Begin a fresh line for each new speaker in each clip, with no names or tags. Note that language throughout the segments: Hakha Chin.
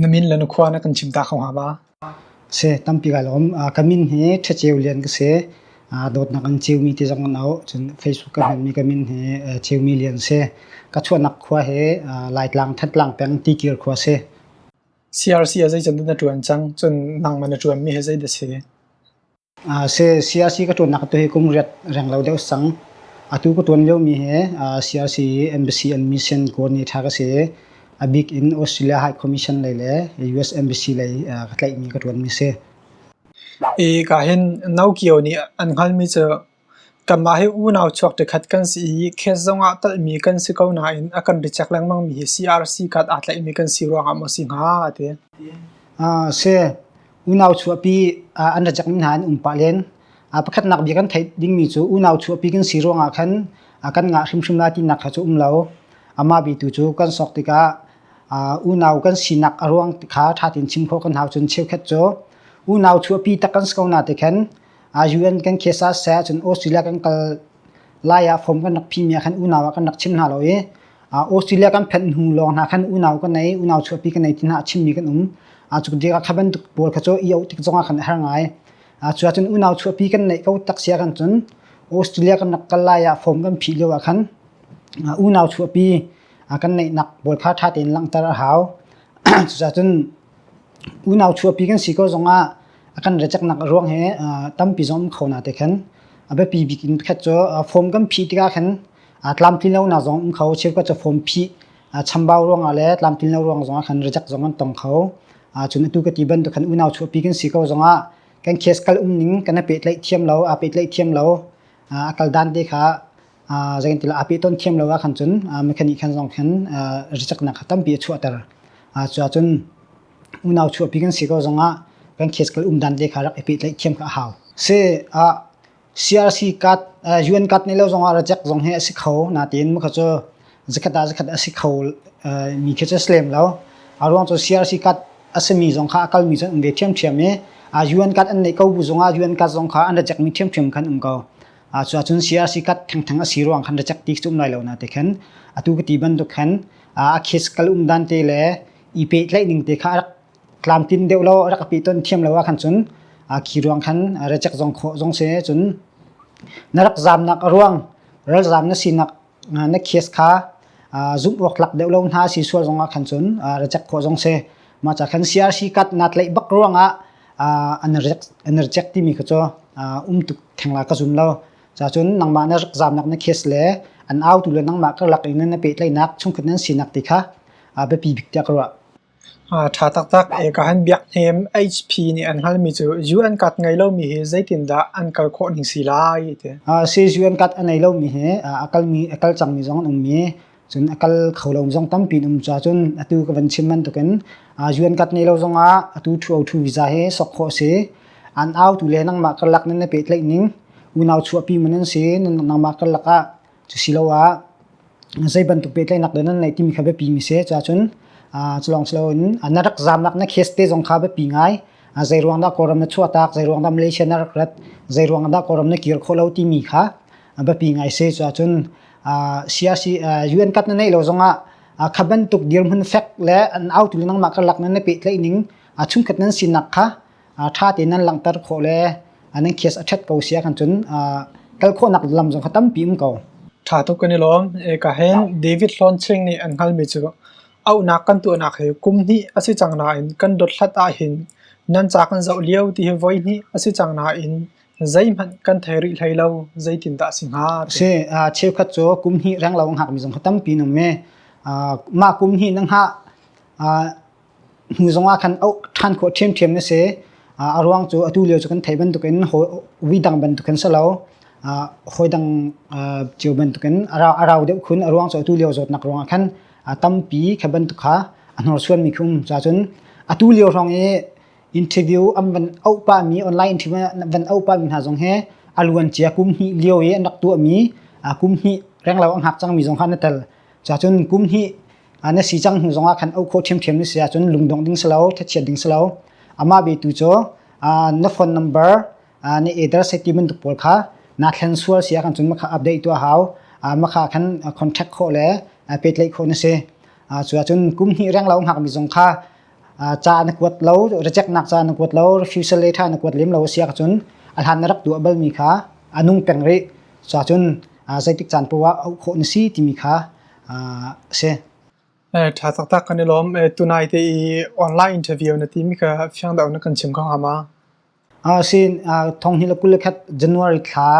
Na min le na khua na kan chim ta kho hnga ba? Si, tampi ka lawm. Ka min hi Ṭhaceu Lian ka si. Dawtnak in Ceumi ti zong an auh. Cun Facebook ka hmanmi ka min hi Ceumi Lian si. Ka chuahnak khua hi Laitlang Thatlang peng Tikir khua si. CRC ah zeican na ṭuan cang? Cun nangman na ṭuanmi hi zeidah si? Siyaasi ka ṭuannak atu hi kum riat reng lo deuh sang. Atu ka ṭuan liomi hi siyaasi embassy and mission kawl nih ṭha ka si i, a bik in Australia High Commission lei le US embassy lei ka tlaihmi ka ṭuanmi a si. Ka hin no kio nih an hngalmi cu Kanmah hi unau chuak ṭikhat kan si i khet zongah talhmi kan si ko nain a kan biacek lengmangmi hi CRC card aa tlaihmi kan si ruangah maw a si hnga a ti. A si. Unau chuahpi an ra cekmi hna an um pah len. Pakhatnak bia kan theih dingmi cu unau chuahpi kan si ruangah khan kan ngah hrimhrim lai tinak kha cu um lo. Amah bia tu cu kan sawk tikah unau kan sinak a ruang kha ṭha tein chim khawh kan hau cun cheukhat cu unau chuahpi tak kan si ko na ti khan UN kan case ah sai ahcun Australia kan kal lai ah form kan rak phihmi ah khan unau ah kan rak chim hna lo i Australia kan phanh hnu lawng hna khan unau kan ei unau chuahpi kan ei ti hna a chimmi kan um a cu dia kha bantuk pawl kha cu i auh tik zongah khan a har ngai a cu ahcun unau chuahpi kan neih ko tak sia kan cun Australia kan rak kal lai ah form kan phih lio ah khan unau chuahpi kan neihnak pawl kha ṭha tein langhter a hau cucahcun Unau chuahpi kan si ko zongah a kan raceknak a ruang hi tampi zong um kho na te khin a biapi bik in pakhat cu form kan phih tikah khin tlamtlinlonak zong um kho cheukhat cu form phih chambau ruangah le tlamtlinlo ruang zongah khan racek zong an tong kho. Cun atu ka ti bantuk khan unau chuahpi kan si ko zongah kan case kal umning kan i pehtlaih thiam lo, aa pehtlaih thiam lo, a kal dan te kha Zeitintiah aa peh tawn thiam lo ahkhan cun mekhanik khan zong khan ricaknak tampi a chuahter. Cuahcun unau chuahpi kan si ko zongah kan case kal um dan te kha rak i pehtlaih thiam kha a hau. Si CRC card UN card nei lo zongah rajak zong hi a si kho nain mukha cu zakhat ah zakhat a si kho mi khi cu a si lem lo. A ruang cu CRC card a simi zong kha a kalmi cu an um ve ṭhiamṭhiam i UN card an neih ko bu zongah UN card zong kha an rajak mi ṭhiamṭhiam khan um ko. a cu ahcun CRC kat thengtheng a si ruang khan racek ti cum lai lo na te khan atu ka ti bantuk khan a khis kal um dan te le i pe tlaih ning te kha rak tlam tin deuh lo rak pi ton thiam lo a khan cun a khi ruang khan racek zong khawh zong se cun na rak zam nak ruang ral zam na si nak na case kha zumh awktlak deuh lo hna si sual zongah khan cun reject khawh zong si mah ca khan CRC kat nat leih bak ruangah an reject timi kha cu um tuk thengla ka zum lo ca cun nangmah na rak zamnak na case le an autu le nangmah ka lak in na pehtlaihnak chungkhat nan sinak ti kha biapi bik tiah ka ruah Ṭha taktak e ka han biak hnem. HP nih an halmi cu UN card ngei lomi hi zeitindah an kal khawh ning si lai ti a si. Swiss UN card a nei lomi hi a kal cangmi zong an um i cun a kal kho lomi zong tampi an um caah cun atu ka van chim bantukin UN card nei lo zongah atu 202 visa hi sawk khawh a si. An autu le nangmah karlak nan i pehtlaih ning unau chuahpi man an si. Nangmah karlak ah Cusiloah zei bantuk pehtlaihnak dah nan ngeih timi kha biapi mi si. Cuahcun culawng si loin na rak zaamnak na case te zong kha biapi ngai. Zei ruang dah Kawlram na chuahtak, zei ruang dah Malaysia na rak rat, zei ruang dah Kawlram na kir khawh lo timi kha biapi ngai si. Cuahcun UN kat na neih lo zongah kha bantuk dirhmun fek le an autu le nangmah karlak nan i pehtlaih ning chungkhat nan sinak kha ṭha tein nan langhter khawh le nan case a ṭhat ko sia kan cun kal khawhnak lam zong kha tampi um ko. Ṭha tuk kan i lawm. Eka hen David Hlawn Ching nih an hngalmi cu auhnak kan tuahnak hi kum hnih a si cang nain kan dothlat ahhin nan ca kan zoh lio ti hi voi hnih a si cang nain zeihmanh kan thei rih hlei lo zeitin dah si hnga? Si, cheukhat cu kum hnih renglo ngakmi zong kha tampi nan um i mah kum hnih na ngah hnu zongah khan auh ṭhan khawh ṭhiamṭhiam na si. A ruang cu atu lio cu kan thei bantukin ui dang bantukin si lo, hawi dang cio bantukin a rau deuh khun. A ruang cu atu lio zawtnak ruangah khan tampi kha bantuk kha a hnorsuanmi khi um caahcun atu lio hrawng i interview an van auh pahmi online interview an van auh pahmi hna zong hi a luancia kum hnih lio i an rak tuahmi kum hnih renglo a ngak cangmi zong kha na tel. Cacun kum hnih ah na si cang hnu zong ah khan auh khawh ṭhiamṭhiam na si ahcun lungdongh ding si lo, thlachiat ding si lo. Amah betu cu na phone number na eder sai ti bantuk pawl kha naa thlen sual si ahkhan cun makha update tuah hau. Makha khan contact khawh le pehtlaih khawh na si. Cuacun kum hnih renglo hngakmi zong kha ca na kuat lo rejeknak ca na kuat lo refusal letter na kuat lem lo a si ahcun a hlan na rak tuah balmi kha a nung peng rih so ahcun zeitik caan paoh ah auh khawh na si timi kha a si. Tha taktak kan i lawm. Tunai te i online interview na timi kha fiang deuh na kan chim ko hnga ma? Thonghnih le kul le khat January thla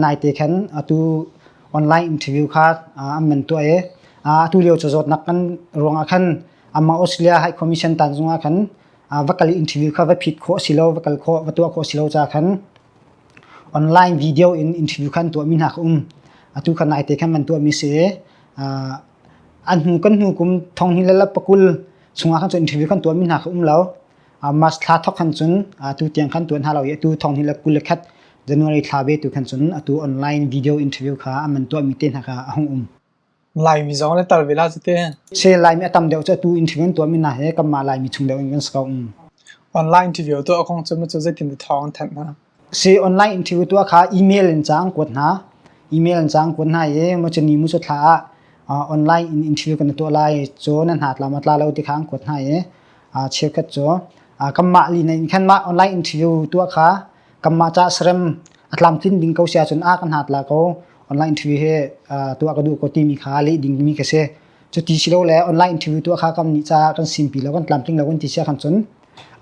naite khan atu online interview kha an man tuah i atu lio cazawtnak kan ruangah khan amah Australia High Commission tanzung ah khan va kal i interview kha va phit khawh a si lo, va kal khawh, va tuah khawh a si lo caah khan online video in interview kha an tuahmi hna kha um. Atu khan naite khan man tuahmi si i an hnu kan hnu kum thonghnih le pakul chungah khan interview kan tuahmi hna kha um lo. March thla thok khan cun atu tiang khan tuan hna lo i atu thong hi le kul le khat January thla ve tu khan cun atu online video interview kha an man tuah mi te hna kha a hung um. Laimi zong le tal vela cu te se Laimi a tam deuh cu atu interview an tuah mi hna he kan mah Laimi chung deuh in kan ska um. Online interview tu a kong cu mu cu zeitin thawng thanh na Se online in thil tuah kha email in cang kuat hna. Email in cang kuat hna i machani mu thla ah online in in thil kan tuah lai cu na hna tla ma tla lo ti khang kuat hna i cheukhat cu kanmah li na in khan mah online in thil tuah kha kanmah ca serem atlam tlin ding ko sia cun a kan hat la ko online thil he tuah ka duh ko ti mi kha le ding mi ka se cu ti silo le online thil tuah kha kam ni cha kan sim pi lo kan tlam tling lo kan ti sia kan cun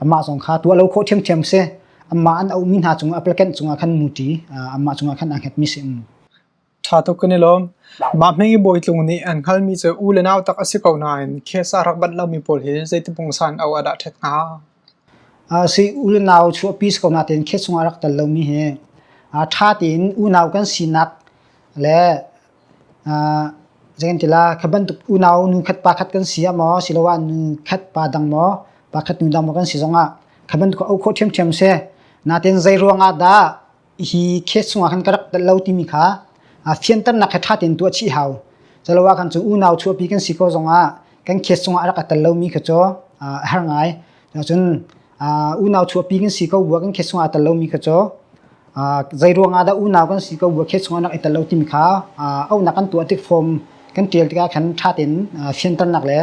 amah zong kha tuah lo kho thiam thiam se Amah an auhmi hna cung applicant cungah khan muṭi amah cungah khan aa hngetmi si um. Ṭha tuk kan i lawm. Mah hmeng i bawi tlung nih an hngalmi cu u le nau tak a si ko nain khesa rak bat lomi pawl hi zeiti pungsan au a dah ṭhet hnga? Si u le nau chuahpi si ko nain khes cungah rak tel lomi hi ṭha tein unau kan sinak le Zeikantilah kha bantuk unau nu khat pa khat kan si ah maw asiloah nu khat pa dang maw pa khat nu dang maw kan si zongah kha bantuk a uk khawh ṭhiamṭhiam a si. Natein zei ruangah dah hi case chungah khan ka rak telh lo timi kha fianternak he ṭha tein tuah a chih hau. Culoah kan cu unau chuahpi kan si ko zongah kan case chungah a rak tel lomi kha cu a har ngai. Cun uh, unau chuahpi kan si ko bua kan khet sungah tel lomi kha cho uh, zei ruangah dah unau kan si ko bua khet sungah nak itel lo timi kha uh, aunak kan tuah tik form kan tial tikah khan thatin uh, fianternak le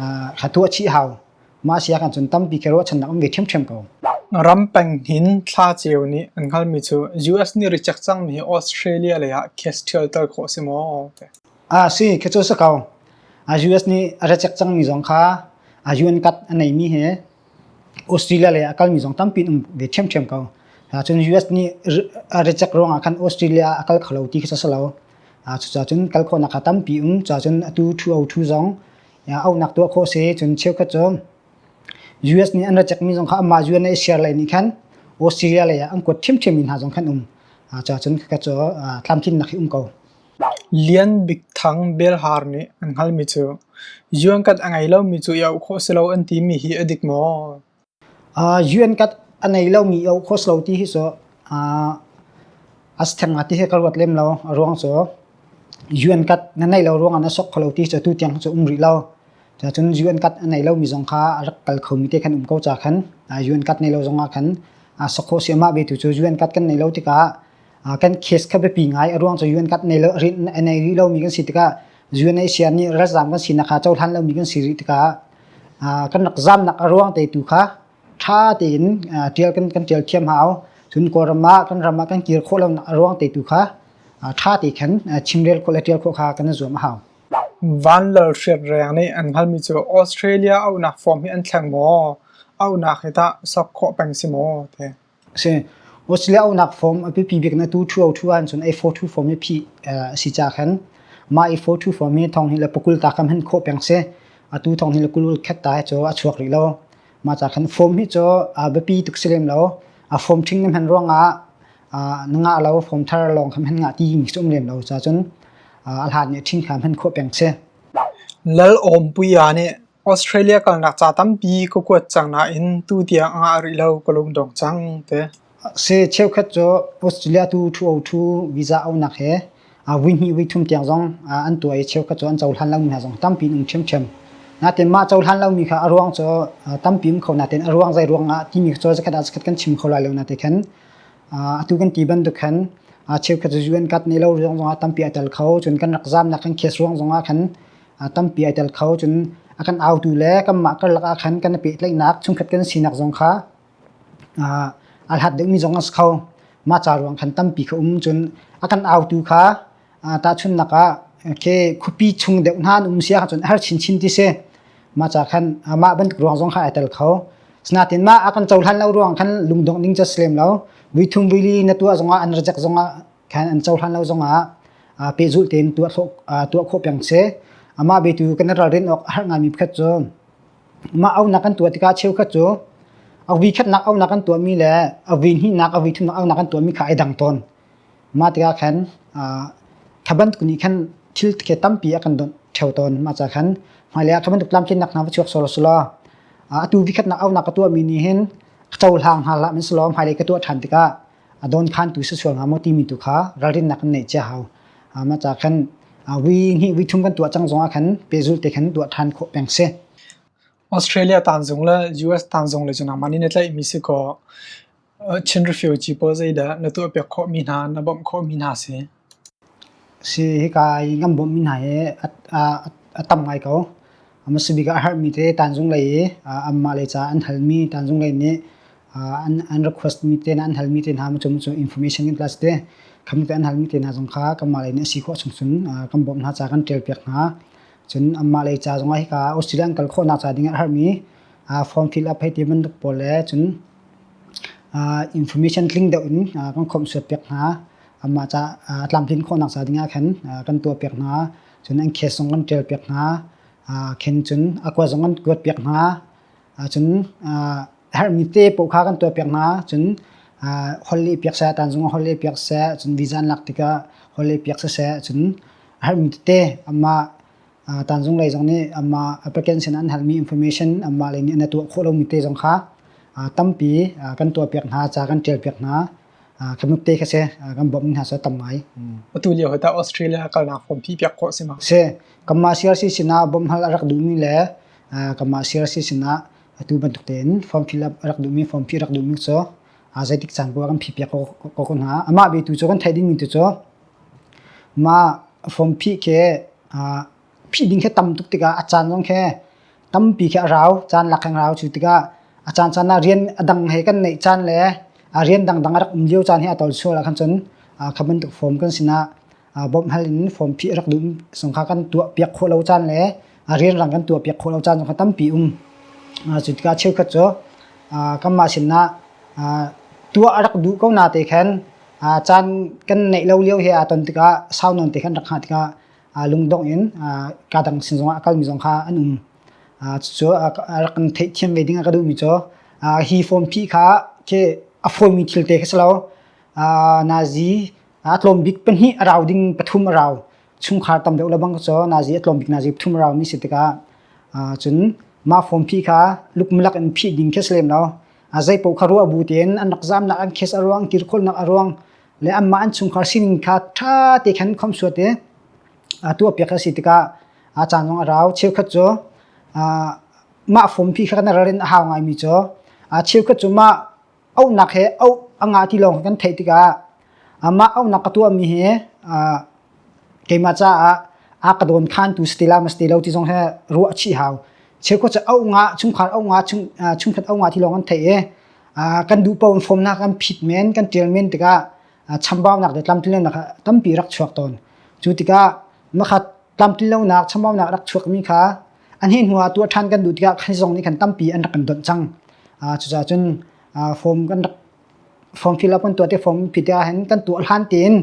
uh, khatu a chi hau ma sia kan chun tampi ke ro chan nak um ve them them ko ram peng hin thla cheu ni an hal mi chu US ni reject cang mi Australia le ah case thial tar kho si mo te Ah si khecu si ko. A US nih a ra cek cangmi zong kha a UN kat a neimi hi Australia le a kalmi zong tampi um ve ṭhiamṭhiam ko. Cun US nih a ra cek ruangah khan Australia a kal kho lo ti khi si lo. Cucacun kal khawhnak kha tampi um cacun atu ṭhu o ṭhu zong aunak tuah khawh si cun cheukhat cu US nih an ra cekmi zong kha amah UN i share lai nih khan Australia lei ah an kuat ṭhiamṭhiam mi hna zong khan um. Cacun khakhat cu tlamtlinnak hi um ko. Lian Bik Thang Belhar nih an hngalmi cu "Yuankat a ngei lomi cu i auh khawh si lo an timi hi a dik maw?" Yuankat a ngei lomi i auh khawh si lo ti hi cu a si theng hnga ti hi ka ruat lem lo. A ruang cu yuankat na neih lo ruangah na sok kho lo ti hi cu atu tiang hi cu um rih lo. Cucun yuankat a ngei lomi zong kha a rak kal khomi te khan um ko ca khan yuankat nei lo zongah khan sok khawh si a mah ve tu cu yuankat kan nei lo tikah kan case kha biapi ngai a ruang cu UN kat nei lo a nei rih lomi kan si tikah UNHCR nih ralzam kan si nakha cohlan lomi kan si rih tikah kan rak zamnak a ruang te tu kha tha tein tial kan kan tial thiam hau cun kawlram ah kan ram ah kan kir khawh lonak a ruang te tu kha tha te khan chimrel khawh le tial khawh kha kan zuam hau van lal hriat reng nih an hngalmi cu Australia aunak form hi an thleng maw aunak hi ta sak khawh peng si maw te a si. Australia unak fom a biapi bik na tu ṭhuo ṭhu ahcun A4 thu fom hi phih a si ca khan mah A4 thu fom hi thong hi le pakul ta kam han khawh peng si. Atu thong hi le kulul khat ta hi cu a chuak rih lo. Mah ca khan fom hi cu a biapi tuk si lem lo. A fom ṭhing na hman ruangah na ngah lo, fom thar lawng kam han ngah ti mi si um lem lo cacun a hlan nih ṭhing kha han khawh peng si. Lal Awmpuia nih Australia kalnak ca tampi ka kuat cang nain tutiang a ngah rih lo ka lungdong cang te. Si cheukhat cu Australia tu ṭhuoṭhu visa aunak he vuihnih vuithum tiang zong an tuah i cheukhat cu an cohlan lomi hna zong tampi an um ṭhiamṭhiam. Natin mah cohlan lomi kha a ruang cu tampi um kho nain a ruang zei ruang ah timi cu zakhat ah zakhat kan chim kho lai lo na ti khin. Atu kan ti bantuk khan cheukhat cu UN Card nei lo ruang zongah tampi a tel kho cun kan rak zaamnak kan case ruang zongah khan tampi ai tel kho. Cun a kan autu le kanmah karlak ah khan kan i pehtlaihnak chungkhat kan sinak zong kha aa aa hlat deuhmi zong a si kho. Mah ca ruang khan tampi kha um cun a kan autu kha aa tahchunhnak ah ke khuapi chung deuh hna an um sia cun a har chinchin ti si. Mah ca khan mah bantuk ruang zong kha ai tel kho. Sinain mah a kan cohlan lo ruang khan lungdongh ding cu a si lem lo. Vuithum vuili na tuah zongah an rajek zongah khan an cohlan lo zongah pehzulh tein tuah tuah khawh peng si. Amah betu kan ralrin awk a har ngai mi pakhat cu mah aunak kan tuah tikah cheukhat cu avi khatnak aunak kan tuah mi le avi hnihnak avi thumnak aunak kan tuah mi kha ai dang tawn. Mah tikah khan thaban kun i khan thil khi tampi a kan donh theo tawn mah ca khan hmailei ah thabantuk tlamtlinnak hna va chuak solo solo atu vikhatnak aunak ka tuah mi nih hin cohlang hal hlah min selaw hmailei ka tuah ṭhan tikah a dawnkhantu si sual hnga maw timi tu kha ralrinnak kan neih cia hau ma ca khan wi ngi wi thum kan tuah cang zongah khan pezul te khan tuah than khawh peng si australia tan zong le us tan zong le junang mani ne tlai mi si ko chin refugee pawl zei da na tu pek kho mi hna na bom kho mi hna si Hika i kan bawmhmi hna hi a tam ngai ko. Masabik ah a herhmi te tanzung lei i anmah lei caah an halmi tanzung lei nih an requestmi te hna, an halmi te hna cu information in plus te khamte an halmi te hna zong kha kanmah lei nih a si khawh chungchung kan bawmh hna caah kan ṭialpiak hna. Cun anmah lei ca zongah hika Australia an kal khawhnak ca dingah a herhmi form fill up hei ti bantuk pawl le cun information tling deuh in kan khawmh suatpiak hna. amah ca a tlamtlin khawhnak ca dingah khan kan tuahpiak hna cun an khes zong kan ṭialpiak hna khen cun a kua zong kan kuatpiak hna cun a herhmi te paoh kha kan tuahpiak hna cun holhleh piak seh tan zong holhleh piak seh cun vizan lak tikah holhleh piak seh cun a herhmi tete amah tan zong lei zong nih amah applicant sin an halmi information amah lei nih an tuah khawh lomi te zong kha tampi kan tuahpiak hna ca kan ṭialpiak hna kan nukte kha se kan bawm hna sa tam ngai atu lio hata australia kalna form phi piak ko sima se kamma siar si sina bom hal arak du mi le kamma siar si sina atu ban tukte in form fill up arak du mi form phi arak du mi so azaitik chan ko kan phi piak ko ko na ama be tu cho kan thai ding mi tu cho ma form phi ke phih ding khi a tam tuk tikah a caan zong khi tampi khi a rau caan lak in rau cu tikah a caan caan ah rian a dang he kan neih caan le a rian dangdang a rak um lio caan hi a tawl sual ah khan cun kha bantuk fawm kan sinah bawmh hal in fawm phih a rak duh sung kha kan tuah piak khawh lo caan le a rian rang kan tuah piak khawh lo caan zong kha tampi um cu tikah cheukhat cu kanmah sinah tuah a rak duh ko na te khan caan kan neih lo lio he aa ton tikah sau non te khan rak hngah tikah lungdongh in kaa dang sin zongah a kalmi zong kha an um. Cucu a rak kan theihthiam ve ding a ka duhmi cu hi form phi kha khi a fawimi thil te khi si lo nazi a tlawm bik pahnih a rau ding pathum a rau chungkhar tam deuh lebang cu nazi a tlawm bik nazi pathum a rau mi si tikah cun mah form phi kha lukmalak in phih ding khi si lem lo a zei paoh kha ruah bu tein an rak zamnak an kes a ruang tirkholnak a ruang le anmah an chungkhar sining kha ṭha te khan khomsuat i a tuahpiak a si tikah a caan zong a rau cheukhat cu mah fompi kha kan ral in a hau ngaimi cu cheukhat cu mah auhnak he auh a ngah ti lawng kan theih tikah mah auhnak ka tuahmi hi keimah caah a ka dawn khantu si te la ma si te lo ti zong he ruah a chih hau cheukhat cu auh ngah chungkhar auh ngah chungkhat auh ngah ti lawng an theih i kan duh paoh in fomnak an phit men kan tial men tikah chambaunak le tlamtlinlonak tampi rak chuak tawn cu tikah makhat tlamtlinlonak chambaunak rak chuakmi kha an hi hnuah tuah ṭhan kan duh tikah khan zong nih khan tampi an rak kan donh cang cucaah cun form kan rak form fill up an tuah te form phite ah hin kan tuah hlan tein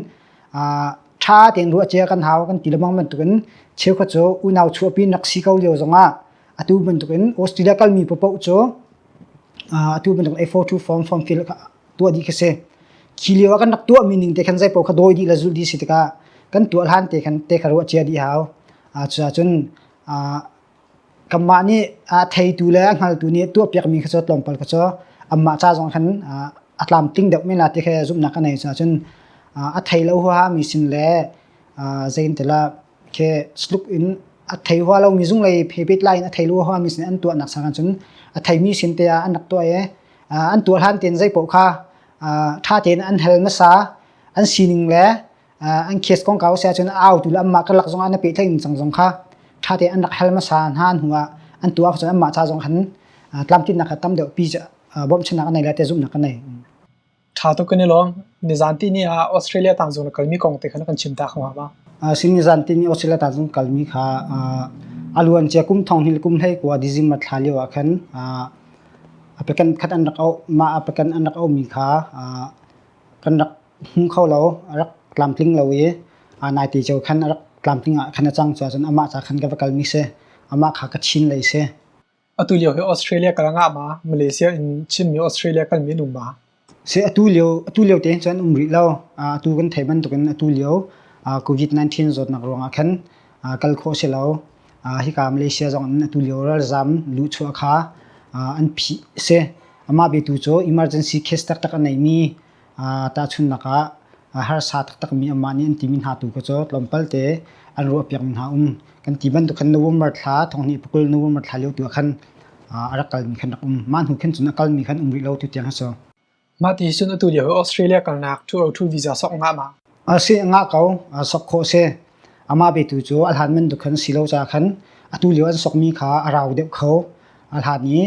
ṭha tein ruah cia kan hau kan ti lebang bantukin cheukhat cu unau chuahpi nak si ko lio zongah atu bantukin Australia kalmi popoh cu atu bantuk A42 form form field tuah dih khi si khi lio ah kan rak tuahmi ning te khan zeipaoh kha dawi dih le zulh dih si tikah kan tuah hlan te khan te kha ruah cia dih hau cucaah cun kanmah nih theitu le hngaltu nih tuah piakmi kha cu tlawmpal kha cu anmah ca zong khan a tlam tling deuh men la ti kha zumhnak a nei cucun a thei lo huahami sin le zein tila Ke tluk in a thei hua lomi zunglei phebet lai in a thei lu hawami sin an tuahnak sakah cun a theimi sin te ah an rak tuah i an tuah hlan tein zei paoh kha ṭha tein an hal hmasa. An sining le an case kongkau a si ahcun a autu le anmah karlak zongah na peh thai ningcang zong kha ṭha tein an rak hal hmasa hna hnuah an tuah ahcun anmah ca zong khan tlamtlinnak kha tam deuh pi bawmhchannak an nei le tezumhnak an nei. Ṭha tuk kan i lawm. Nizan tihni ah Australia tang zung na kalmi kong te kha na kan chim ta kho hnga ma? Sim nizan tihni Australia tang zung kalmi kha a luancia kum thong hnih le kum hlei kua December thla lio ah khan a pekan khat an rak auh. Mah a pekan an rak auhmi kha kan rak hmu kho lo. A rak tlamtling lo i nai te cio khan a rak tlamtling ah khan a cang cuahcun amah ca khan ka va kalmi si. Amah kha ka chin lei si. Atu lio hi Australia kal ngah ma? Malaysia in Chinmi Australia kalmi an um ma? Si atu lio atu lio te cun um rih lo. Atu kan thei bantukin atu lio COVID-19 zawtnak ruangah khan kal khawh si lo. Hika Malaysia zong in atu lio ralzam luhchuah kha an phih si. Amah betu cu emergency case taktak a neimi Tahchunhnak ah harsa taktakmi anmah nih an timi hna tu kha cu tlawmpal te an ruahpiakmi hna um. Kan ti bantuk khan November thla, thonghnih pakul November thla lio tu ah khan a rak kalmi khan rak um. Mah hnu khin cun a kalmi khan um rih lo tutiang a si. Mah ti cun atu lio hi Australia kalnak 202 visa sawk ngah ma? a si nga ko sok khawh si amah betu cu a hlan man duk khan si lo ca khan atu lio an sokmi kha a rau deuh kho a hlan i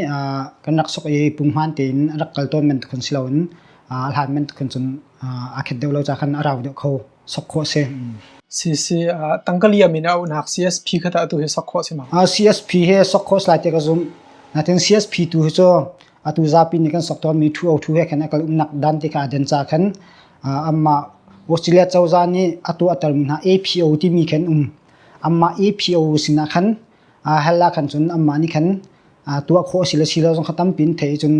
kan rak sok i punghman tein rak kal tawn man khun si lo in a hlan man khun cun a khet deuh lo ca khan a rau deuh kho sok khawh si CC tangkaliam in a unak CSP kha tu hi sok khawh si ma CSP he sok khawh slai te ka zum natin CSP tu hi cu atu zapi nih kan sok tawnmi ṭhuo ṭhu he khan a kal umnak dan te kha a den ca khan anmah Australia cozah nih a tuahtermi hna APO timi khan um anmah APO sinah khan hal ah khan cun anmah nih khan tuah khawh a si le si lo zong kha tampi in theih cun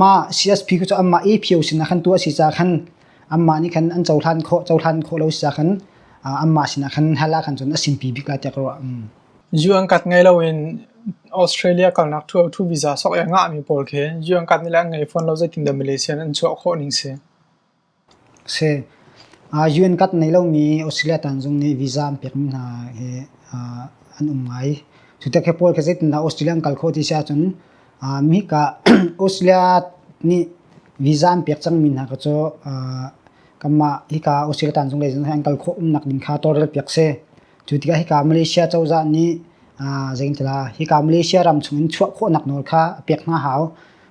mah CSP cu anmah APO sinah khan tuah a si ca khan anmah nih khan an cohlan khawh cohlan khawh lo si ca khan anmah sinah khan hal ah khan cun a simpi bik la tiah ka ruah. Zu an kat ngei loin Australia kalnak tour tu visa sok i a ngahmi pawl khi zu an kat nih le an ngei fawn lo zeitindah Malaysia nih an chuah khawh ning si? Si. Zu an kat nei lomi Australia tanzung nih visa an pekmi hna hi an um ngai. Cutik hi pawl khi zeitindah Australia an kal khawh ti si ahcun mihika Australia nih visa an pek cangmi hna kha cu kanmah hika Australia tanzung lei zong hi an kal khawh umnak ding kha tawlrel piak si. Cu tikah hika Malaysia cozah nih zeitilah hika Malaysia ram chungin chuah khawhnak nawl kha a pek hna hau.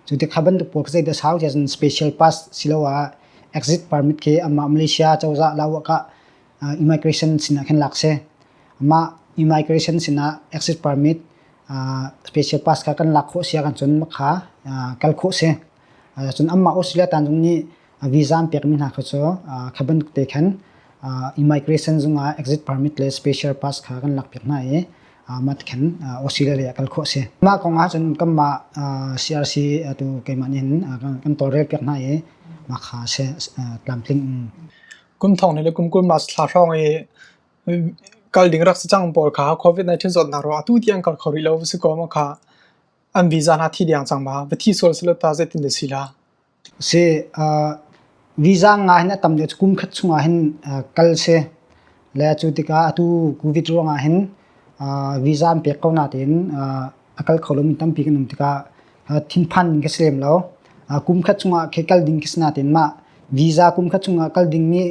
Cu ti kha bantuk pawl zeidah sau tiah cun special pass siloah exit permit khi amah Malaysia cozah lauah kah immigration sinah khin lak si. Amah immigration sinah exit permit special pass kha kan lak khawh si ahcun cun makha kal khawh si. Cun amah Australia tanzung nih visa an pekmi hna kha cu kha bantuk te khan immigration zungah exit permit le special pass kha kan lak piak hna i mah khan Australia ah kal khawh si mah kong ah cun kanmah CRC tu keimah nih kan tawlrel piak hna i mah kha se tlamtling kum thong ne le kum kul mas thla hrawng i kal ding rak si cang pawl kha covid 19 zot na ro atu tiang kal khori lo si ko ma kha an visa na thi diang chang ma va thi sol silo ta zetin de sila Si uh, visa nga hin a tam deuh kum khat chung ah hin uh, kal si le cu tikah atu covid ruang ah hin uh, visa an pek ko na tein uh, a kal kho lomi tampi kan um tikah uh, thinphan ka si lem lo uh, kum khat chung ah khe kal ding ka si na tein mah visa kum khat chung ah kal ding mi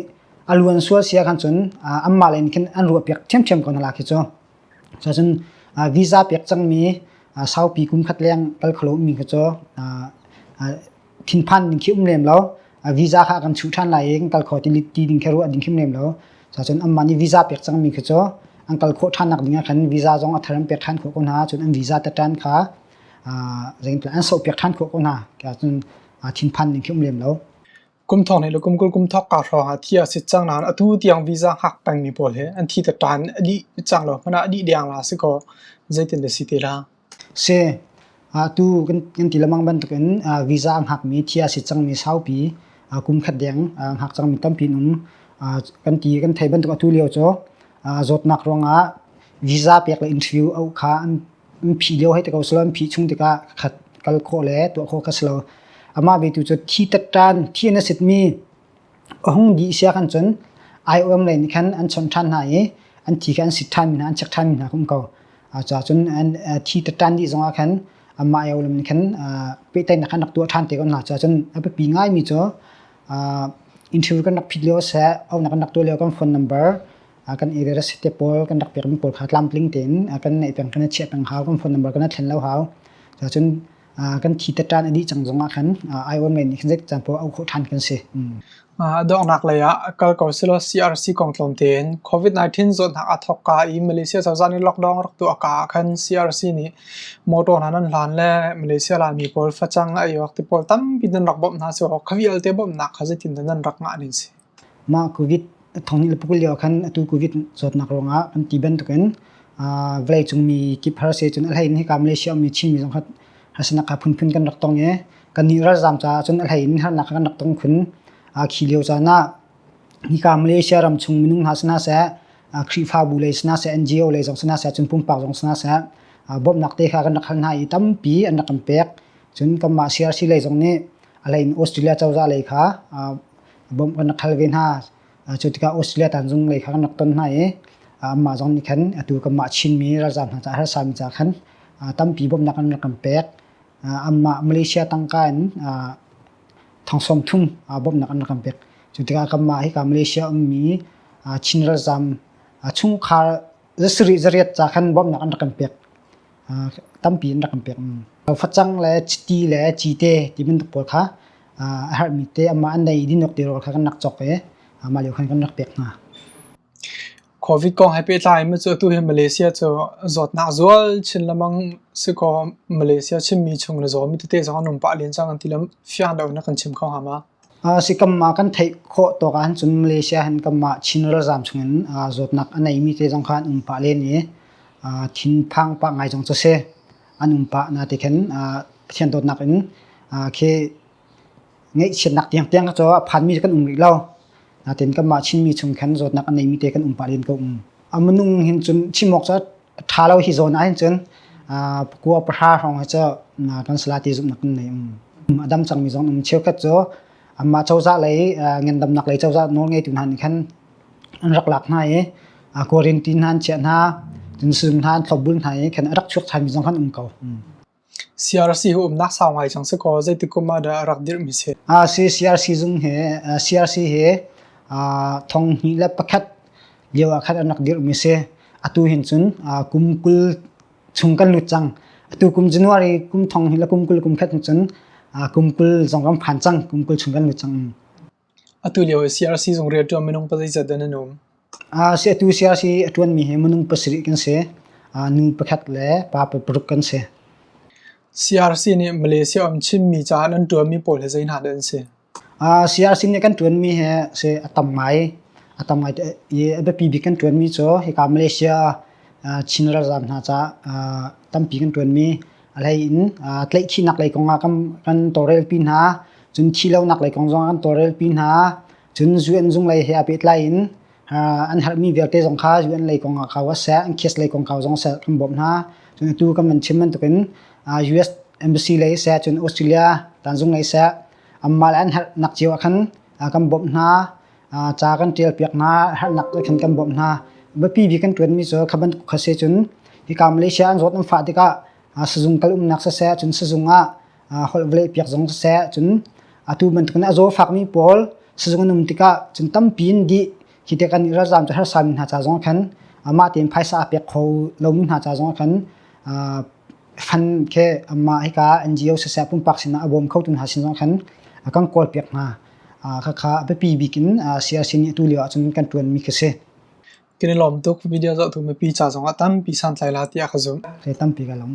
aluan sual sia khan cun uh, amma len khin an ruah piak thiam thiam ko na la khi cu Cun visa pek cangmi saupi kumkhat leng kal kho lomi kha cu thinphan ding khi um lem lo. Visa kha a kan chuh ṭhan lai i kan kal kho ti ding kha ruah ding khi um lem lo. Cun anmah nih visa pek cangmi kha cu an kal khawh ṭhan nak dingah khan visa zong a thar an pek ṭhan khawh ko hna. Cun an visa tatṭan kha an soh piak ṭhan khawh ko hna. Cun thinphan ding khi um lem lo. Kum thong nih le kum kul kum thok kaa hrawng ah thi a sit cang nain atu tiang visa hngak pengmi pawl he an thi te ṭan a dih cang lo hmanh ah a dih deng la si kaw zeitin dah si te la? Si. Atu kan ti lemang bantuk in visa hngakmi thi a sit cangmi saupi kum khat deng hngak cangmi tampi in um. Kan ti kan thei bantuk atu lio cu zawtnak ruangah visa pek le interview auh kha an An phih lio hei ti ko selaw, an phih chung tikah ka khat kal khawh le tuah khawh kha si lo. Amah ve tu cu thi tatṭan, thi an a sitmi a hung dih siak ahcun aiawm lei nih khan an chonh ṭhan hna i an thi kha an sit ṭhanmi hna, an chek ṭhanmi hna kha um ko. Cucaah cun thi tatṭan dih zongah khan amah aiawm lam nih khan pehtlaihnak khan rak tuah ṭhan te ko hna. Cucaah cun a biapi ngaimi cu interview kan rak phit lio seh, auhnak kan rak tuah lio kan phone number, a kan i rera sit te pawl kan rak pekmi pawl kha tlamtling tein a kan naih peng khan a chiah peng hau kan phone number kan a thlen lo hau ca cun kan thi te ṭan a dih cang zongah khan aiawm ngai nih khan zeik can pawh auh khawh ṭhan kan si. Donghnak lei ah kal ko selaw CRC kong tlawm tein COVID-19 zawtnak a thawk ka i Malaysia cozah nih lockdown rak tuah ka ah khan CRC nih motor hna nan hlan le Malaysia Laimi pawl facang a iawk ti pawl tampi nan rak bawmh hna si kaw kha vialte bawmhnak kha zeitin dah nan rak ngah ning si? Mah Covid thong hnih le pakul lio ah khan atu Covid zawtnak ruangah kan ti bantukin vawleicung mi kip harsa cun a hleiin hika Malaysia ummi Chinmi zong kha harsanak kha phunphun kan rak tong i kannih ralzaam caah cun a hleiin harnak kha kan rak tong khun. Khi lio caan ah hika Malaysia ram chung minung hna si hna seh, Khrihfabu lei si hna seh, NGO lei zong si hna seh, cun pumpak zong si hna seh bawmhnak te kha kan rak hal hna i tampi an rak kan pek. Cun kanmah CRC lei zong nih a hleiin Australia cozah lei kha bom kan rak hal ve hna cu tikah Australia tan zung lei kha kan rak ton hna i anmah zong nih khan atu kanmah Chinmi ralzaam hna caah harsami ca khan tampi bawmhnak an rak kan pek anmah Malaysia tangka in thongsawm thum bawmhnak an rak kan pek cu tikah kanmah hika Malaysia ummi Chin ralzaam chungkhar zasarih zariat ca khan bawmhnak an rak kan pek tampi in rak kan pek. Facang le chiti le cite ti bantuk pawl kha a herhmi te amah an nei dinok te rawl kha kan rak cawk ve. Amah lio khan kan rak pek hna. Covid kong he pehtlai in cu atu hi Malaysia cu zawtnak zual chin lamang si kaw Malaysia Chinmi chung le zaw mi tete zong an um pah len cang an ti le fiang deuh in a kan chim kho hnga ma? Sikam ah kan theih khawh tawk ahcun Malaysia hin kanmah Chin ralzaam chungin zawtnak a neimi te zong kha an um pah len i thinphang pah ngai zong cu si. An um pah na ti khin Pathian dawtnak in khi ngaihchiatnak tiangtiang cu a phanmi cu kan um rih lo. Natin kanmah Chinmi chung khin zawtnak a neimi te kan um pah len ko. A minung hin cun chim awk cu ṭha lo hi zawn ahhin cun kua pahra hrawng cu tonsalah ti zumhnak in nei um a dam cangmi zong um cheukhat cu mah cozah lei ngendamnak lei cozah nawlngeitu hna nih khan an rak lak hna i kuarin ti hna an chiah hna tunsum hna an thlopbul hna i khan a rak chuak ṭhanmi zong khan um ko CRC hi umnak sau ngai cang si kaw zeitik kum ah dah a rak dirhmi si? CRC zung hi CRC hi thong hnih le pakhat lio ah khan an rak dirhmi si. Atu hin cun kum kul chung kan lut cang. Atu kum January kum thong hnih le kum kul kum khat hin cun kum kul zong kan phan cang. Kum kul chung kan lut cang. Atulio ah CRC zung rian ṭuan minung pazeizat dah nan um? Atu CRC a ṭuanmi hi minung pasarih kan si. Nu pakhat le pa paruk kan si. CRC nih Malaysia um Chinmi caah nan ṭuanmi pawl hi zei hna dah an si? CRC nih kan ṭuanmi hi a tam ngai. A tam ngai i a biapi bik kan ṭuanmi cu hika Malaysia Chin ralzaam hna caah tampi kan ṭuanmi A hlei in uh, tlaihchihnak lei kong ah kan tawlrelpi hna. Cun thilonak lei kong zong kan tawlrelpi hna. Cun UN zung lei he a pehtlai in an herhmi vialte zong kha UN lei kong ah kau a seh, an case lei kong kau zong seh kan bawmh hna. Cun tu kan man chim bantukin US embassy lei seh, cun Australia tanzung lei seh, amma le an herh nak cio ah khan kan bawmh hna. ca kan ṭialpiak hna harnak le khan kan bawmh hna biapi bik kan ṭuanmi cu kha bantuk kha si cun hika Malaysia an zawt an fah tikah sizung kal umnak siseh cun sizung ah holh vale piak zong siseh cun atu bantukin a zaw fakmi pawl sizung an um tikah cun tampi in dih hi te kan i ralzam cu harsami hna ca zong khan mah tein phaisa a pek kho lomi hna ca zong khan fan khe amma hika NGO siseh pumpak sinah a bawm khotu hna sin zong khan a kan kawl piak hna khakha a biapi bik in siyasin nih atu lio ahcun kan ṭuanmi khi si. Kan i lawm tuk video zohtu mipi ca zongah tampi santlai la tiah ka zumh. Thei tampi ka lawm.